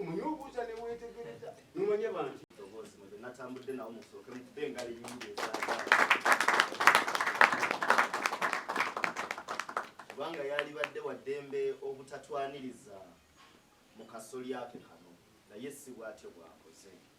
omunyobuuza newetegereza nomanya bantu natambudde nawo musooke mukube engali nyingi kubanga yalibadde waddembe obutatwaniriza mu kasolya ke kano naye si bwatyo bwakoze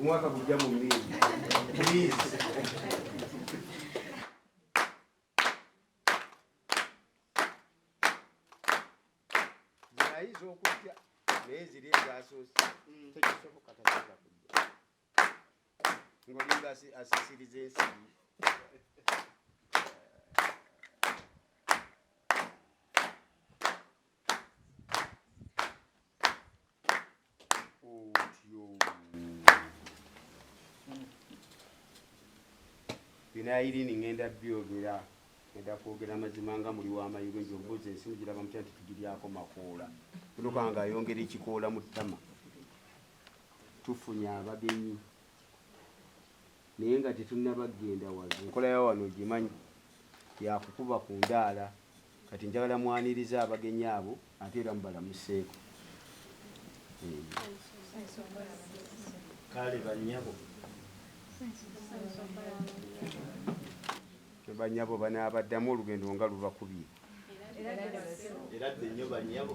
Umwaka kujja mu mimi. Please. Zinayiza okujja naye ziri ezasoose mm. tekisoboka tasobola kujja ngolinga asisiriza ensibi binayilini ngenda byogera eda kwogera mazima nga muli wamayugo nti obuuza ensi mugiraba mutya nti tugiryako makoola tunuka nga ayongera ekikoola mu ttama tufunye abagenyi naye nga tetunaba kugenda wazo enkola ya wano ogimanyi yakukuba ku ndaala kati njagala mwaniriza abagenyi abo ate era mubalamuseeko kale banyabo banyabo banaabaddamu olugendo nga lubakubye era dde nyo banyabo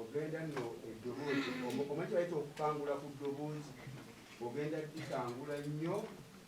ogenda no eddoboozi omanyi bayita okukangula ku ddoboozi ogenda dikangula nnyo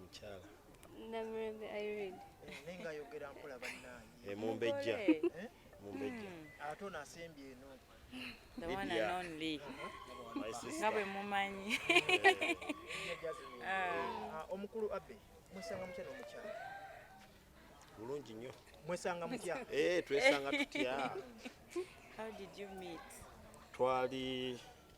mukyala namrebe irene eh, naye nga ayogera mpola bannange eh, mumbejja eh? mumbejja hmm. ate ono asembye eno the one and only nga bwe mumanyi ah. ah, omukulu abe mwesanga mutya n'omukyala bulungi nnyo mwesanga mutya twesanga tutya how did you meet twali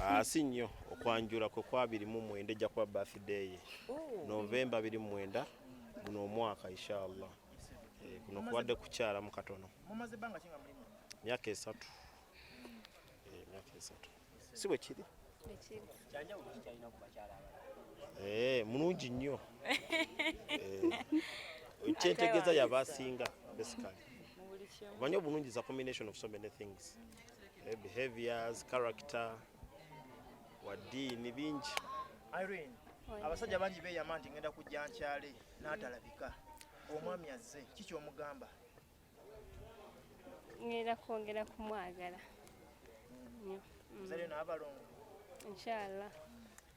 asi ah, nnyo okwanjula kwe kwa biri mu mwenda ejja kuba birthday ye oh. novemba biri mu mwenda guno omwaka inshallah eh, kuno kubadde kukyala mu katono myaka esatu eh, myaka esatu si bwe kiri eh, mulungi nnyo kyentegeeza yabasinga basically omanyi obulungi za combination of so many things eh, behaviors character wadiini bingi irene abasajja bangi beyama nti ngenda kujja nkyale n'atalabika omwami azze kiki omugamba ngenda kwongera kumwagala nyo mm. mzalio n'abalongo inshallah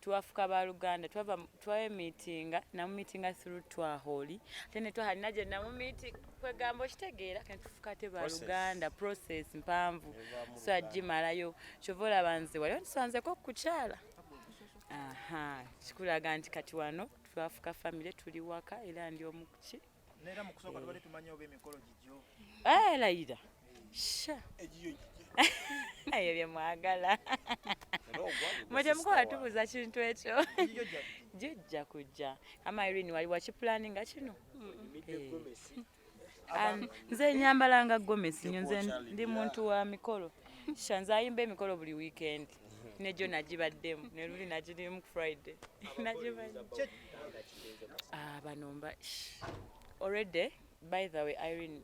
twafuka baluganda twava twemitinga namumitinga through twaholi ate netwahali naje namumiti kwegamba okitegeera kati tufuka ate baluganda process mpanvu so agimalayo kyova olaba nze waliwo ntisanzeko okukyala aha kikulaga nti kati wano twafuka famire tuli waka era ndi omukuki Nera mu kusooka tubadde tumanyi oba emikolo gigyo. Eh, Layira. Sha. Egiyo ebyo bye mwagala mwete mukola tubuza kintu ekyo jijja kujja ama irini wali wakipulani nga kino nze nyambala nga gomesi nyo nze ndi muntu wa mikolo shanze ayimba emikolo buli wikendi nejo nagibaddemu neluli nagirimu friday ah, banomba already by the way irene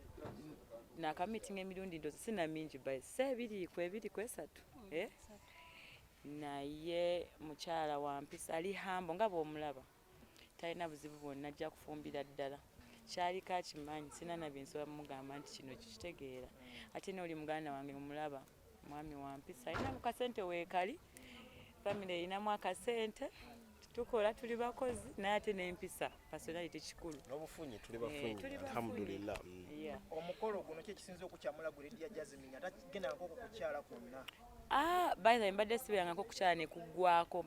nakamitinga emirundi ndozi sina mingi by se ebiri ku ebiri ku esatu mm, eh? naye mukyala wampisa ali hambo nga bwomulaba talina buzibu bwonna ajja kufumbira ddala kyaliko akimanyi sina nabyensobola mugamba nti kino kikitegeera ate nooli muganda wange omulaba mwami wampisa alina mukasente weekali famiry erinamu akasente tukola tuli bakozi naye ate nempisa personality kikulu nobufunyi tuli eh, bafunyi alhamdulillah mm. omukolo guno kyekisinza okukyamula guledia jasmine atagenda nkokukukyala kwonna ah, by the way mbadde sibeerangako okukyala nekuggwako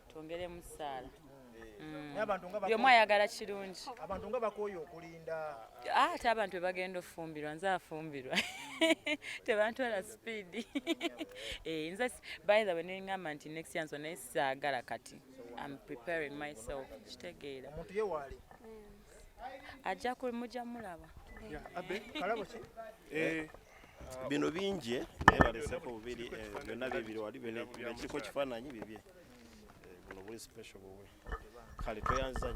twongeremu ssaala mm. buli omu ayagala kirungi abantu nga bakooye okulinda ah, ate abantu bebagenda ofumbirwa nze afumbirwa tebantwala sipiidi eh, nze by the way nengamba nti next yanso naye saagala kati am preparing myself kitegeera omuntu ye waali ajja ku mujja mulaba eh, bino bingi eh, naye baleseko bubiri eh, byonna bibiri wali kiriko kifaananyi bibye buno buli special buwe kale tweyanziza